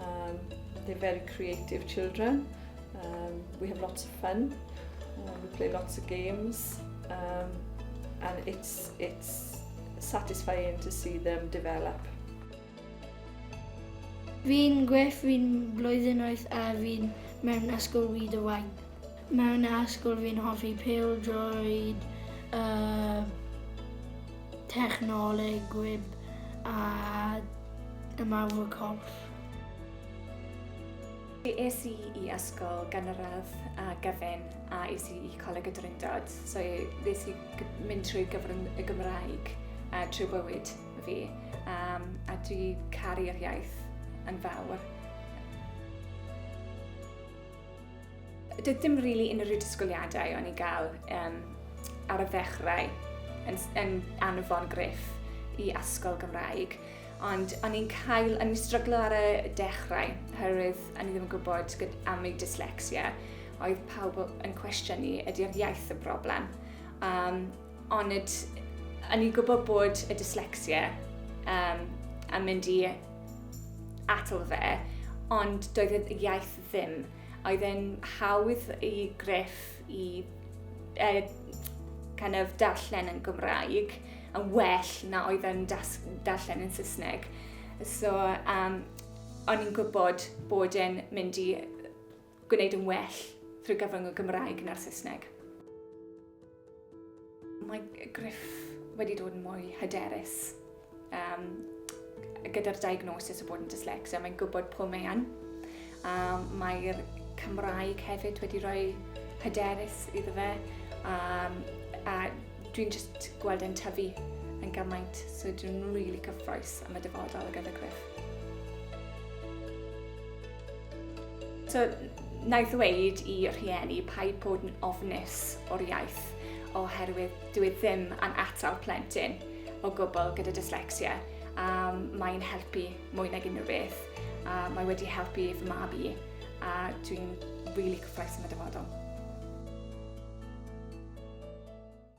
Um, they're very creative children. Um, we have lots of fun. Um, we play lots of games. Um, and it's, it's satisfying to see them develop. Fi'n gwell fi'n blwyddyn oed a fi'n mewn ysgol wyd y wain. Mewn ysgol fi'n hoffi pêl-droed, yym technoleg, gwib a ymarfer corff. Fi es i i ysgol gynradd a gyfun a es i i Coleg y Drindod, so nes i mynd trwy gyfrwng y Gymraeg a trwy bywyd fi um, a dwi caru'r iaith yn fawr. Doedd dim really unrhyw disgwyliadau o'n i gael um, ar y ddechrau yn, yn anfon griff i asgol Gymraeg. Ond o'n i'n cael, o'n i'n stryglo ar y dechrau, oherwydd o'n i ddim yn gwybod am ei dyslexia. Oedd pawb yn cwestiynu, ydy'r iaith y broblem. Um, ond o'n i'n gwybod bod y dyslexia um, yn mynd i atal fe, ond doedd y iaith ddim. Oedd e'n hawdd i Griff i uh, kind of darllen yn Gymraeg yn well na oedd e'n darllen yn Saesneg. So, um, o'n i'n gwybod bod e'n mynd i gwneud yn well drwy gyfrwng y Gymraeg na'r Saesneg. Mae Griff wedi dod yn mwy hyderus um, gyda'r diagnosis o bod yn dyslexia. Mae'n gwybod pwy mae yn. Um, Mae'r Cymraeg hefyd wedi rhoi hyderus iddo fe. Um, a dwi'n just gweld yn tyfu yn gymaint, so dwi'n rili really cyffroes am y dyfodol gyda Griff. So, na i ddweud i rhieni paid bod yn ofnus o'r iaith oherwydd dwi e ddim yn atal plentyn o gwbl gyda dyslexia a mae'n helpu mwy nag unrhyw beth a mae wedi helpu fy mab i a dwi'n rili really cyffroes yn y dyfodol.